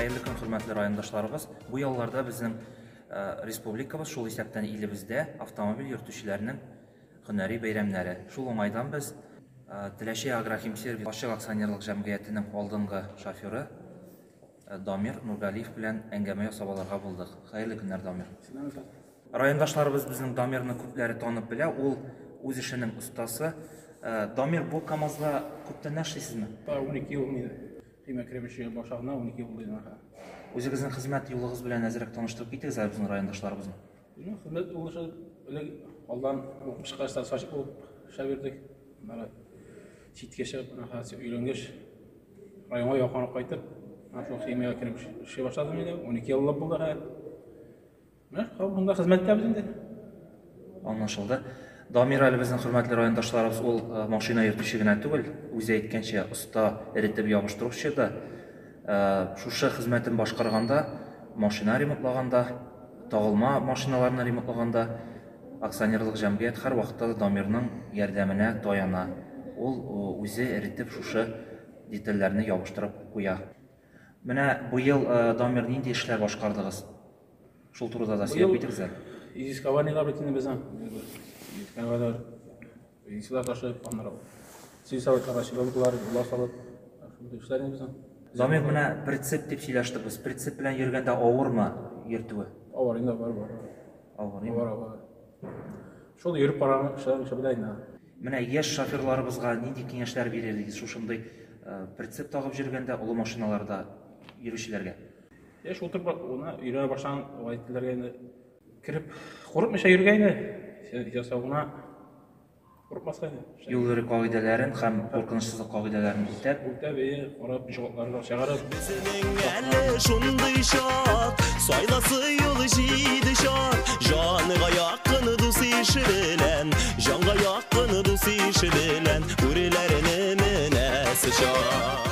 Хәерле көн, хөрмәтле райондашларыбыз. Бу ялларда безнең э, республикабыз, шул исәптән илебездә автомобиль йөртүчеләрнең һөнәри бәйрәмнәре. Шул уңайдан без э, Теләче агрохимсервис ачык акционерлык җәмгыятенең алдынгы шоферы Дамир Нургалиев белән әңгәмә ясап алырга булдык. Хәерле көннәр, Дамир. Райондашларыбыз безнең Дамирны күпләре танып белә, ул үз эшенең остасы. Э, Дамир, бу КАМАЗда күптән эшлисезме? 12 ел мин көймә керебеше башлавына 12 ел булды. Үзегезнең хезмәт юлыгыз белән әзерәк таныштырып китегез әле безнең райондашларыбызны. Ну, хезмәт уңышы элек алдан укып чыккач, сачып булып эшләп йөрдек. Бары читкә чыгып, менә хәзер өйрәнгәч, районга якынрак кайтып, менә шул химиягә кереп эшли башладым инде. 12 еллап булды хәзер. Менә шул монда хезмәттәбез инде. Аңлашылды. Дамир әле безнең хөрмәтле райондашларыбыз ул машина йөртүче генә түгел, үзе әйткәнчә, оста эретеп ябыштыручы да. Шушы хезмәтен башкарганда, машина ремонтлаганда, тагылма машиналарны ремонтлаганда акционерлык җәмгыять һәрвакытта да Дамирның ярдәменә таяна. Ул үзе эретеп шушы детальләрне ябыштырып куя. Менә быел Дамир нинди эшләр башкардыгыз? Шул турыда да сөйләп китегез әле. Изискованиелар бит инде безнең. Җиткән кадәр изисилар ташып, аннары сил советларга чыгылдылар, юлга салып, шундый эшләр инде безнең. Замир менә прицеп дип сөйләштек без. Прицеп белән йөргәндә авырмы йөртүе? Авыр инде, бар, бар. Авыр, авыр, авыр. Шул йөреп караган кешеләр эше белән инде. Менә яшь шоферларыбызга нинди киңәшләр бирер идегез шушындый прицеп тагып йөргәндә, олы машиналарда йөрүчеләргә? Яшь утырып оны өйрәнә башлаган гаиләләргә инде кереп курыкмыйча йөргә инде. Ясавына курыкмаска инде. Юл йөрү кагыйдәләрен һәм куркынычсызлык кагыйдәләрен үтәп, үтәп ие, карап ишегалтларга чыгарып. Безнең әле шундый чак, сайласы юл җиде чак. Җанга якын дус ише белән, җанга якын дус ише белән, бүреләрне менәсе чак.